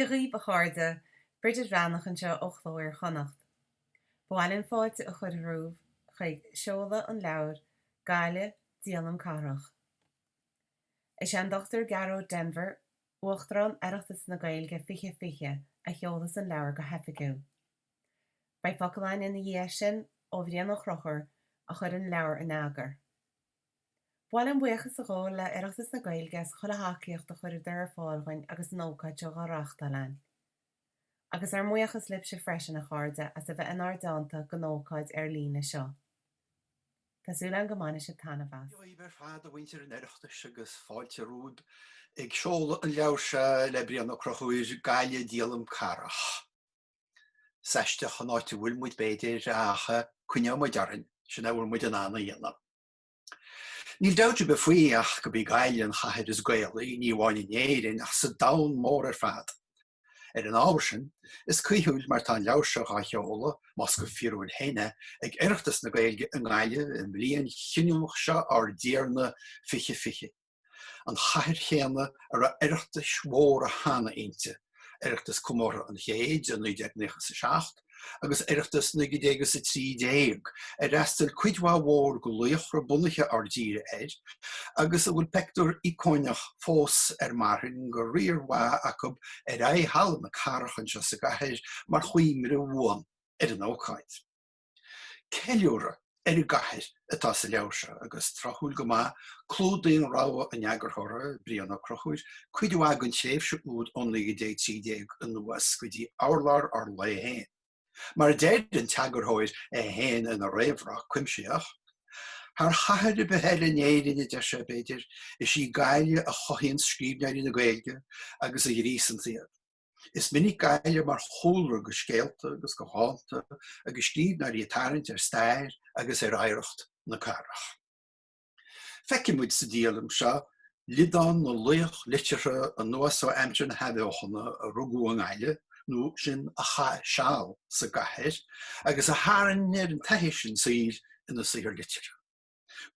Dia dhaoibh, a chairde, Bridget Bhreathnach anseo ó Chló Iar-Chonnacht. Ba mhaith linn fáilte a chur romhaibh chuig seoladh an leabhair Gaillimh, Díolaim Cathrach. Is é an Dr. Gearóid Denvir, Uachtarán Oireachtas na Gaeilge 2020, a sheolfas an leabhar go hoifigiúil. Beidh focal againn ina dhiaidh sin ó Bhrian Ó Conchubhair a chuir an leabhar in eagar. Ba mhaith linn buíochas a ghabháil le Oireachtas na Gaeilge as chuile thacaíocht a chuireadar ar fáil dhúinn agus an ócáid seo dhá reachtáil againn. Agus ár mbuíochas libhse freisin, a chairde, as a bheith inár dteannta don ócáid ar líne seo. Tá súil againn go mbainfidh sibh taitneamh as. Dia dhaoibh ar fad, a mhuintir an Oireachtais, agus fáilte romhaib ag seoladh an leabhair seo le Brian Ó Conchubhair, Gaillimh, Díolaim Cathrach. Is aisteach an áit a bhfuil muid, b'fhéidir, ach coinneoidh muid orainn, sin a bhfuil muid in ann a dhéanamh. Níl dabht ar bith faoi ach gurb í Gaillimh an chathair is Gaelaí, ní amháin in Éirinn, ach sa domhan mór ar fad. Ar an ábhar sin, is caoithiúil mar tá an leabhar seo dhá sheoladh, más go fíorúil féin é, ag Oireachtas na Gaeilge i nGaillimh i mbliain chinniúnach seo ár dTiarna 2020. an chathair chéanna a raibh Oireachtais mhóra cheana inti, Oireachtas Comórtha an Chéid i 1997 agus Oireachtas 1900 is 13, ar fhreastail cuid mhaith mhór de laochra bunaithe ár dtíre air agus a bhfuil peictiúr íocónach fós ar marthain de riar mhaith acu ar aghaidh Halla na Cathrach anseo sa gcathair mar chuimhne bhuan ar an ócáid. Ceiliúradh ar an gcathair atá sa leabhar seo agus, tráthúil go maith, clúdaíonn rogha an eagarthóra, Brian Ó Conchubhair, cuid mhaith den tréimhse úd ó 1913 anuas go dtí urlár ár lae féin. Mar a deir an t-eagarthóir é féin ina réamhrá cuimsitheach, Thar chathair ar bith eile in Éirinn, a deir sé, b'fhéidir, is í Gaillimh a chothaíonn scríbhneoirí na Gaeilge agus a ghríosanns iad. Is minic Gaillimh mar chúlra do scéalta agus do dhánta agus scríbhneoirí ag tarraingt ar stair agus ar oidhreacht na cathrach. Feicfidh muid sa díolaim seo liodán na laoch liteartha anuas ó aimsir na hathbheochana a rugadh i nGaillimh nó sin a chaith seal sa gcathair agus a tharraing ar an taithí sin saoil ina saothar liteartha.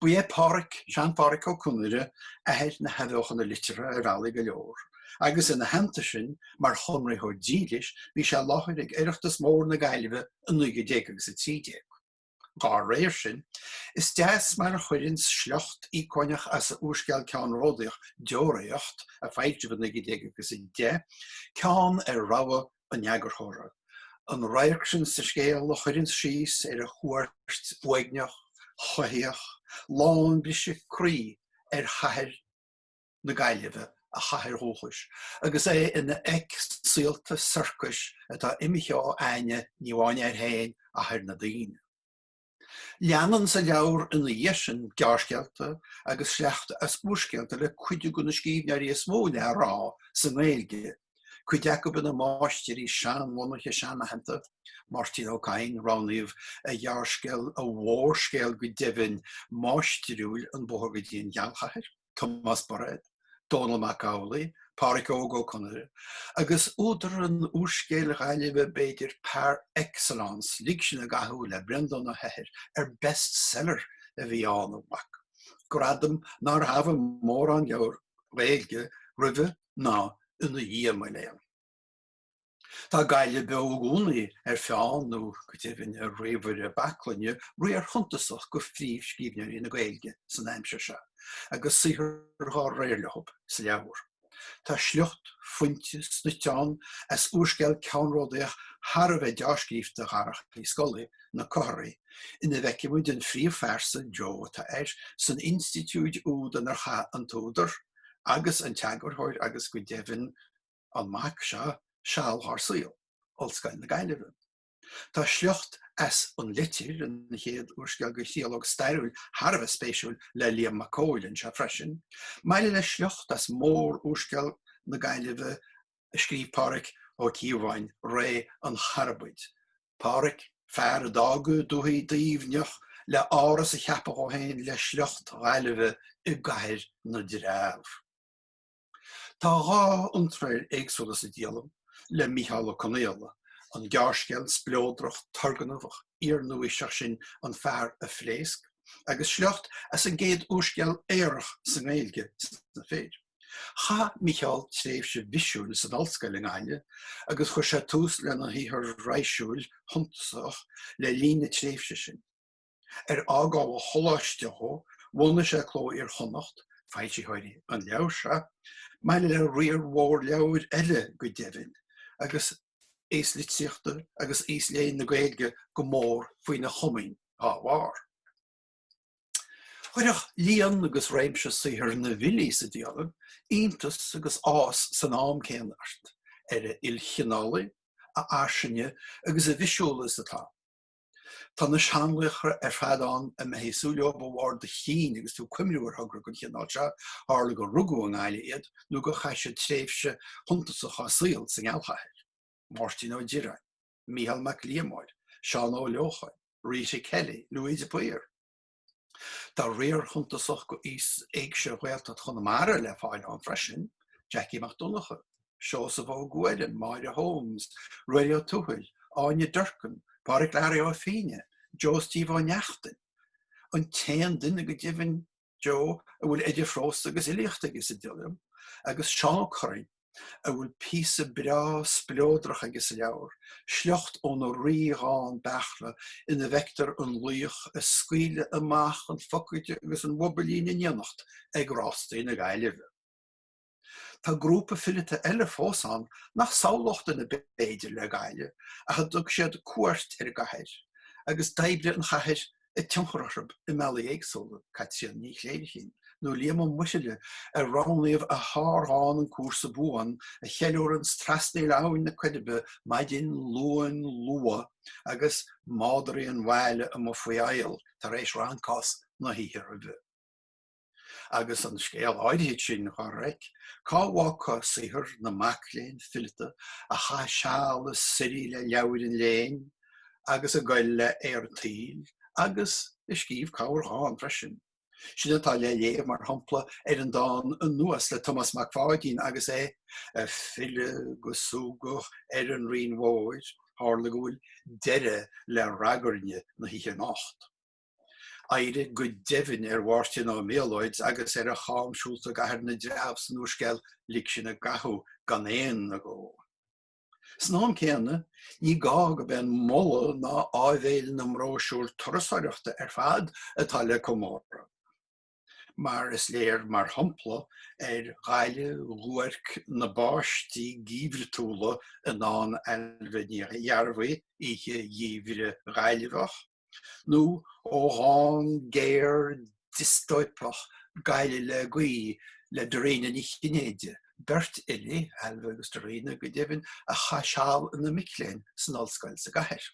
Ba é Páraic, Sean-Pháraic Ó Conaire, athair na hathbheochana liteartha ar bhealaí go leor, agus ina theannta sin, mar Chonraitheoir dílis, bhí sé i láthair ag Oireachtas Mór na Gaillimhe i 1900 agus 13. Dá réir sin, is deas mar a chuireann sliocht íocónach as a úrscéal ceannródaíoch Deoraíocht, a foilsíodh i 1910, ceann ar rogha an eagarthóra, an radharc sin sa scéal a chuireann síos ar a chuairt uaigneach, choimhthíoch, lán briseadh croí ar chathair na Gaillimhe, a chathair dhúchais, agus é ina fheic saolta sorcais atá imithe ó aithne, ní amháin air féin, ach ar na daoine. Leanann sa leabhar ina dhiaidh sin gearrscéalta agus sleachta as úrscéalta le cuid de na scríbhneoirí is mó le rá sa nGaeilge, cuid acu ina máistirí seanbhunaithe seanaitheanta, Máirtín Ó Cadhain, roghnaíodh a ghearrscéal, a mhórscéal go deimhin, máistriúil, 'An Bóthar go dtí an Ghealchathair'. Tomás Bairéad, Dónall Mac Amhlaigh, Pádhraic Óg Ó Conaire, agus údar an úrscéil Ghaillimhe b'fhéidir par excellence, Lig Sinn i gCathú le Breandán Ó hEithir, ar best-seller a bhí ann, a mhac, gradam nár thabhaigh mórán leabhar Gaeilge roimhe ná ina dhiaidh, mo léan. Tá Gaillimh beo i gcónaí ar pheann, nó go deimhin ar ríomhaire baclainne, riar shuntasach de phríomhscríbhneoirí na Gaeilge san aimsir seo, agus saothar dhá réir leo sa leabhar. Tá sliocht fuinte snoite ann as úrscéal ceannródaíoch thar a bheith dea-scríofa Dharach Uí Scolaí, Na Comharthaí, ina bhfeicimid an phríomhphearsa, Joe atá air, san institiúid úd inar chaith an t-údar, agus an t-eagarthóir, agus go deimhin, an mac seo seal dhár saol, Ollscoil na Gaillimhe. Tá sliocht as An Litir, an chéad úrscéal de thriológ stairiúil thar a bheith spéisiúil le Liam Mac Cóil anseo freisin, maille le sliocht as mórúrscéal na Gaillimhe a scríobh Pádhraic Ó Cíobháin, Ré an Charbaid. Pádhraic, fear a d'fhága dúthaigh Duibhneach le áras a cheapadh dhó féin le sliocht Ghaillimhe i gcathair na dTreabh. Tá dhá iontráil éagsúla sa díolaim le Micheál Ó Conghaile, an gearrscéal spleodrach turgnamhach iar-nua-aoiseach sin An Fear a Phléasc agus sliocht as an gcéad úrscéal aorach sa nGaeilge, Sna Fir. Chaith Micheál tréimhse bhisiúil san ollscoil i nGaillimh agus chuir sé tús lena shaothar raidhsiúil shuntasach le linn na tréimhse sin. Ar fhágáil an choláiste dhó, bhunaigh sé Cló Iar-Chonnacht, foilsitheoirí an leabhair seo, maille le riar mhór leabhar eile go deimhin, agus aos litríochta agus aos léinn na Gaeilge go mór faoina chomaoin dá bharr. Chuirfeadh líon agus réimse saothar na bhfilí sa díolaim iontas agus áthas san am céanna ort, ar a ilchineálaí, a fhairsinge agus a bhisiúla is atá. Tá na seanlaochra ar fad ann a mbeifí ag súil leob de bharr do chinn agus tú ag cuimhniú ar thogra den chineál seo, tharla gur rugadh i nGaillimh iad nó gur chaith siad tréimhse shuntasach dá saol sa ngealchathair, Máirtín Ó Direáin, Micheál Mac Liammóir, Seán Ó Leocháin, Rita Kelly, Louis de Paor. Tá riar shuntasach d'éigse Ghaeltacht Chonamara le fáil ann freisin, Jackie Mac Donncha, Seosamh Ó Guairim, Máire Holmes, Ruairí Ó Tuathail, Áine Durkin, Páraic Learaí Ó Fínneadha, Joe Steve Ó Neachtain, an t-aon duine go deimhin, Joe, a bhfuil idir phrós agus fhilíocht aige sa díolaim, agus Seán Ó Curraoin. a bhfuil píosa breá spleodrach aige sa leabhar, sliocht óna rí-dhán Beairtle ina bhfeictear an laoch ag scaoileadh amach an phocaide agus an bhobailín in éineacht ag Rástaí na Gaillimhe. Tá grúpa fileata eile fós ann nach samhlódh duine b'fhéidir le Gaillimh ach a dtug siad cuairt ar an gcathair agus d'oibrigh an chathair a tionchar orthu i mbealaí éagsúla, Caitríona Ní Chléirchín nó Liam Ó Muirthile ar roghnaíodh a shárdhán 'An Cúrsa Buan' a cheiliúranns trasnaíl Abhainn na Coiribe maidin Luain luath agus madraí an bhaile amuigh faoi adhall tar éis rancás na hoíche roimhe. agus an scéal áirithe sin dhá reic, cá bhfágfá saothar na mac léinn fileata a chaith seal ag suirí le leabhair an léinn agus ag goil le haer an tsaoil, agus a scríobh corrdhán freisin. Sin atá le léamh, mar shampla, ar an dán 'Anuas le Tomás Mac Pháidín agus é ag filleadh go súgach ar an Rinn Mhóir, tharla go bhfuil deireadh le ragairne na hoíche anocht. Oidhre go deimhin ar Mháirtín Ó Méalóid agus ar a chamshiúlta i gcathair na dtreabh san úrscéal Lig Sinn i gCathú gan aon agó. San am céanna, ní gá gurb é an moladh ná áibhéil na mbróisiúr turasóireachta ar fad atá le comóradh, mar is léir, mar shampla, ar Ghaillimh dhuairc na báistí geimhriúla i ndán Ailbhe Ní Ghearbhuigh, oíche gheimhridh Ghaillmheach, nó ó dhán géar diostóipeach Gaillimh le Gaoith le Dairena Ní Chinnéide, beirt fhilí, Ailbhe agus Dairena, go deimhin, a chaith seal ina mic léinn san ollscoil sa gcathair.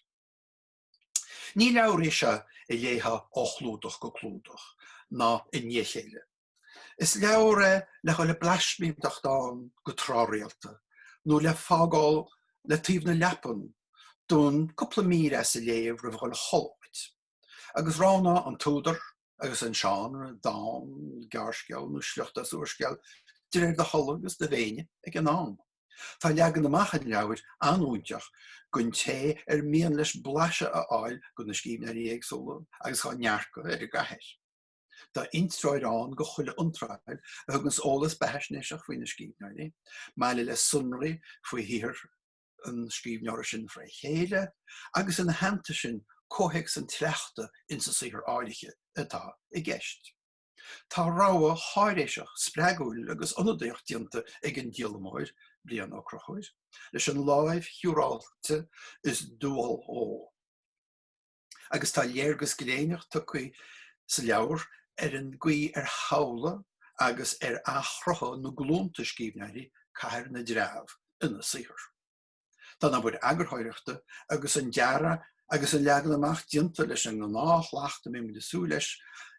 Ní leabhar é seo a léifeá ó chlúdach go clúdach, ná i ndiaidh a chéile. Is leabhar é le dhul ag blaismínteacht ann go tráthrialta, nó le fágáil le taobh na leapan d'fhonn cúpla mír as a léamh roimh dhul a chodladh duit. Agus roghnaigh an t-údar, agus an seánra, dán, gearrscéal nó sliocht as úrscéal, de réir do thola agus do mhéine ag an am. Tá leagan amach an leabhair an-fhóinteach don té ar mian leis blaiseadh a fháil de na scríbhneoirí éagsúla agus dá ndearcadh ar an gcathair. Tá intreoir ann go chuile iontráil a thuganns eolas beathaisnéiseach faoi na scríbhneoirí, maille le sonraí faoi shaothar an scríbhneora sin fré chéile, agus ina theannta sin comhthéacs an tsleachta ins an saothar áirithe atá i gceist. Tá rogha cháiréiseach, spreagúil agus ionadaíoch déanta ag an díolamóir, Brian Ó Conchubhair, leis an láimh shiúráilte is dual dhó. agus tá léargas gléineach tugtha sa leabhar ar an gcaoi ar shamhlaigh agus ar athchruthaigh na glúnta scríbhneoirí Cathair na dTreabh ina saothar. Tá an obair eagarthóireachta agus an dearadh agus an leagan amach déanta leis an ngnáthshlacht a mbímid ag súil leis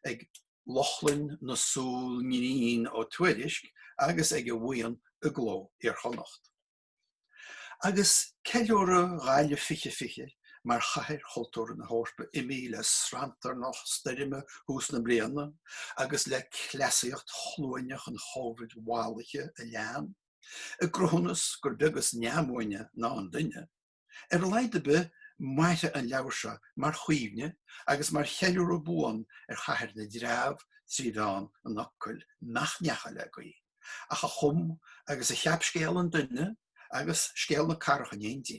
ag Lochlainn na súl ngrinn Ó Tuairisg agus ag a bhuíon i gCló Iar-Chonnacht. Agus ceiliúradh Ghaillimh 2020 mar Chathair Chultúrtha na hEorpa imithe le sranntarnach stoirme thús na bliana agus le cleasaíocht chluaineach an chóibhid mhallaithe a lean, i gcruthúnas gur beag is neamhbhuaine ná an duine, Ar a laghad ar bith mairfidh an leabhar seo mar chuimhne agus mar cheiliúradh buan ar chathair na dtreabh trí mheán an fhocail nach ndeachaigh le gaoth ach a chum agus a cheap scéal an duine agus scéal na cathrach in éindí.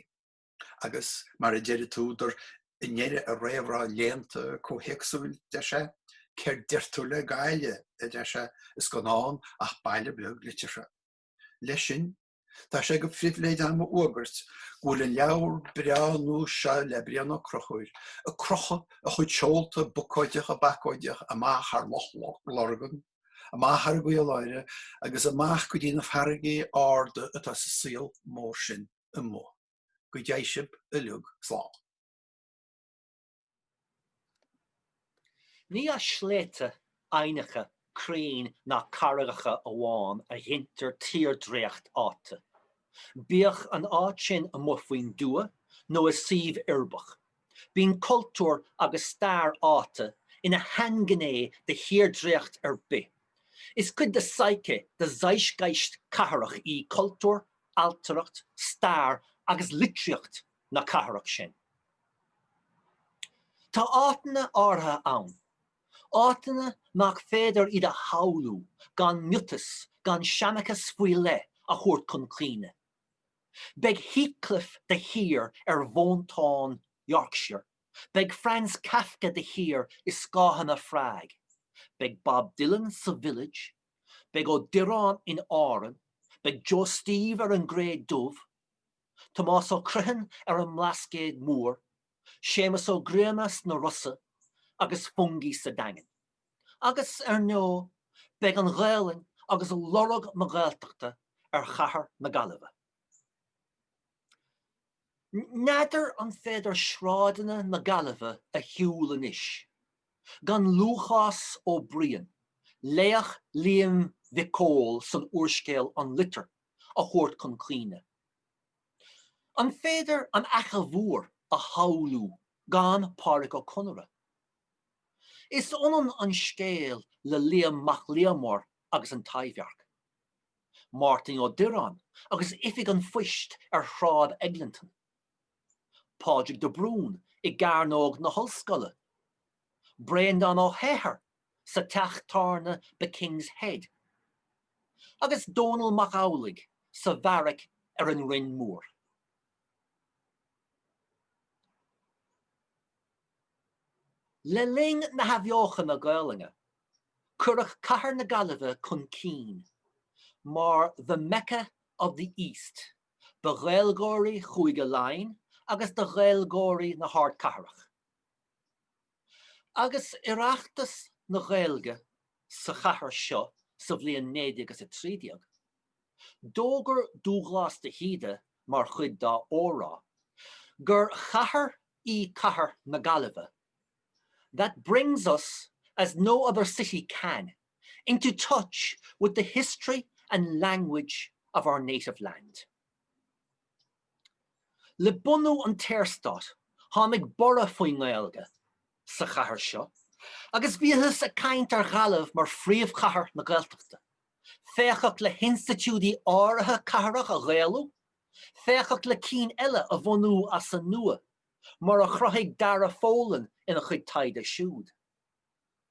Agus mar a deir an t-údar i ndeireadh a réamhrá léannta comhthéacsúil, deir sé, 'Céard deir tú le Gaillimh, a deir sé, is gan ann ach baile beag liteartha. Leis sin, Tá sé go phribhléid agam a fhuagairt go bhfuil an leabhar breá nua seo le Brian Ó Conchubhair ag crochadh a chuid seolta bocóideacha bacóideacha amach thar Loch Lurgan, amach thar an gCaoláire agus amach go dtí na farraigí arda atá sa saol mór sin amuigh. Go dté sibh uilig slán. Ní as sléibhte, aibhneacha, crainn ná carraigeacha amháin a ghintear tírdréacht áite, bíodh an áit sin amuigh faoin dtuath nó i suíomh uirbeach. Bíonn cultúr agus stair áite ina shainghné de thírdréacht ar bith. Is cuid de psyche, de zeitgeist cathrach í cultúr, ailtireacht, stair agus litríocht na cathrach sin. Tá áiteanna áirithe ann, áiteanna nach féidir iad a shamhlú gan miotas, gan seanchas faoi leith a thabhairt chun cuimhne. Beidh Heathcliff de shíor ar mhóinteáin Yorkshire, beidh Franz Kafka de shíor i scáthanna Phrág, beidh Bob Dylan sa Village, beidh Ó Direáin in Árainn, beidh Joe Steve ar an gCré Dhubh, Tomás Ó Criomthain ar an mBlascaod Mór, Séamus Ó Grianna sna Rosa agus Fungie sa Daingean. Agus, ar ndó, beidh an Ghaolainn agus lorg na Gaeltachta ar chathair na Gaillimhe. N'fheadar an féidir sráideanna na Gaillimhe a shiúl anois gan Lúchás Ó Briain, laoch Liam Mhic Cóil san úrscéal An Litir a thabhairt chun cuimhne. An féidir an Fhaiche Mhór a shamhlú gan Pádraic Ó Conaire? Is ionann an scéal le Micheál Mac Liammóir agus an Taibhdhearc, Máirtín Ó Direáin agus Oifig an Phoist ar Shráid Eglinton, Pádraig de Brún i gCearnóg na hOllscoile, Breandán Ó hEithir sa teach tábhairne The King's Head, agus Dónall Mac Amhlaigh sa bheairic ar an Rinn Mhór. Le linn na hathbheochana Gaolainne, cuireadh cathair na Gaillimhe chun cinn mar 'the Mecca of the East'. do Ghaeilgeoirí Chúige Laighean agus do Ghaeilgeoirí na hardchathrach. Agus Oireachtas na Gaeilge sa chathair seo sa bhliain 1913, d'fhógair Dúghlás de hÍde mar chuid dá óráid gur chathair í cathair na Gaillimhe, That brings us as no other city can. into touch with the history and language of our native land'. Le bunú an tSaorstáit tháinig borradh faoin nGaeilge sa chathair seo agus bhíothas ag caint ar Ghaillimh mar phríomhchathair na Gaeltachta, féachadh le hinstitiúidí áirithe cathrach a ghaelú, féachadh le cinn eile a bhunú as an nua, mar a chruthaigh Dara Folan ina chuid taighde siúd.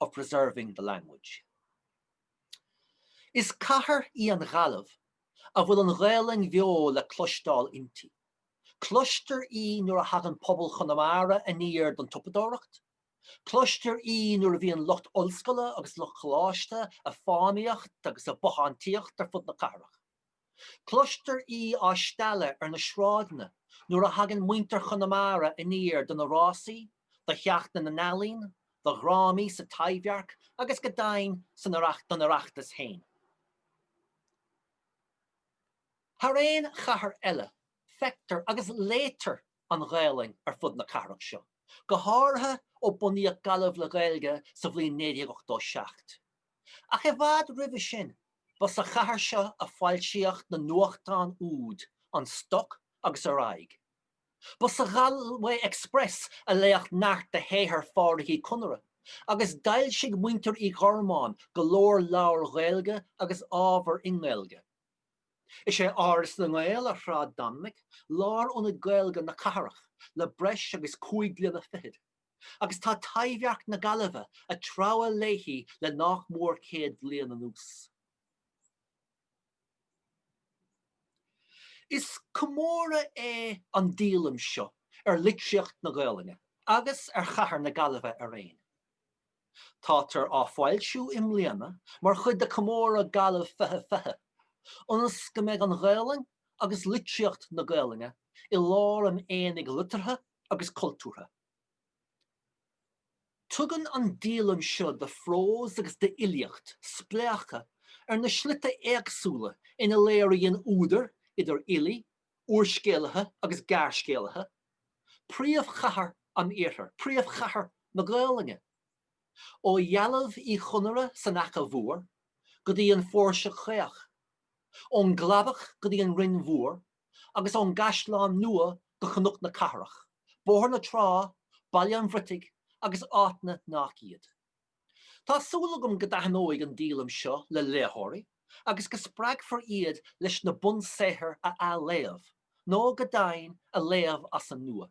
of preserving the language'. Is cathair í an Ghaillimh a bhfuil an Ghaelainn bheo le cloisteáil inti. Cloistear í nuair a thagann pobal Chonamara aniar don tsiopadóireacht, cloistear í nuair a bhíonn lucht ollscoile agus lucht coláiste a' fánaíocht agus a' bothántaíocht ar fud na cathrach. Cloistear í á stealladh ar na sráideanna nuair a thagann muintir Chonamara aniar do na rásaí, do Sheachtain na nEalaíon, do dhrámaí sa Taibhdhearc agus go deimhin don Oireachtas féin. Thar aon chathair eile, feictear agus léitear an Ghaelainn ar fud na cathrach seo, go háirithe ó bunaíodh Gaillimh le Gaeilge sa bhliain 1987. Ach i bhfad roimhe sin, ba sa chathair seo a foilsíodh na nuachtáin úd An Stoc agus Ar Aghaidh. Ba sa Galway Express a léadh neart de shaothar Phádraig Uí Conaire, agus d'fhoilsigh muintir Uí Ghormáin go leor leabhar Gaeilge agus ábhar i nGaeilge. Is é Áras na nGael ar Shráid Dominic lárionad Gaeilge na cathrach le breis agus cúig bliana fichead. agus tá Taibhdhearc na Gaillimhe ag treabhadh léithi le nach mór céad bliain anuas. Is comóradh é an díolaim seo ar litríocht na Gaolainne agus ar chathair na Gaillimhe araon. Tátar á foilsiú i mbliana mar chuid de Chomóradh Gaillimh 2020, ionas go mbeidh an Ghaolainn agus litríocht na Gaolainne i lár an aonaigh liteartha agus cultúrtha. Tugann an díolaim seo de phrós agus d'fhilíocht spléachadh ar na slite éagsúla ina léiríonn údair, idir fhilí, úrscéalaithe agus ghearrscéalaithe, príomhchathair an Iarthair, príomhchathair na Gaolainne, ó dhealbh Uí Chonaire san Fhaiche Mhór go dtí an Phóirse Caoch, ón gCladach go dtí an Rinn Mhór, agus ón gCaisleán Nua go Cnoc na Cathrach, Bóthar na Trá, Baile an Bhriotaigh agus áiteanna nach iad. Tá súil agam go dtaitneoidh an díolaim seo le léitheoirí agus go spreagfar iad leis na bunsaothair a athléamh, nó go deimhin, a léamh as an nua.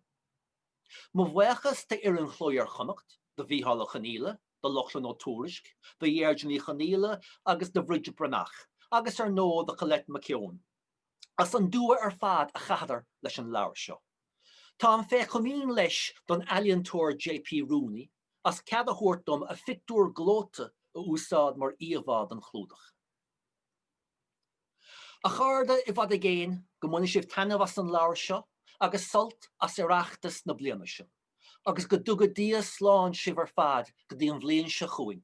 Mo bhuíochas d'fhoireann Chló Iar-Chonnacht, do Mhicheál Ó Conghaile, do Lochlainn Ó Tuairisg, do Dheirdre Ní Chonghaile agus do Bhridget Bhreathnach, agus ar ndóigh do Choilette Nic Aodha. as an dua ar fad a chaitheadar leis an leabhar seo. Táim fé chomaoin leis ag an ealaíontóir JP Rooney as cead a thabhairt dom a phictiúr gleoite a úsáid mar íomhá don chlúdach. A chairde, i bhfad is i gcéin, go mbaine sibh taitneamh as an leabhar seo agus sult as Oireachtas na bliana seo, agus go dtuga Dia slán sibh ar fad go dtí an bhliain seo chugainn.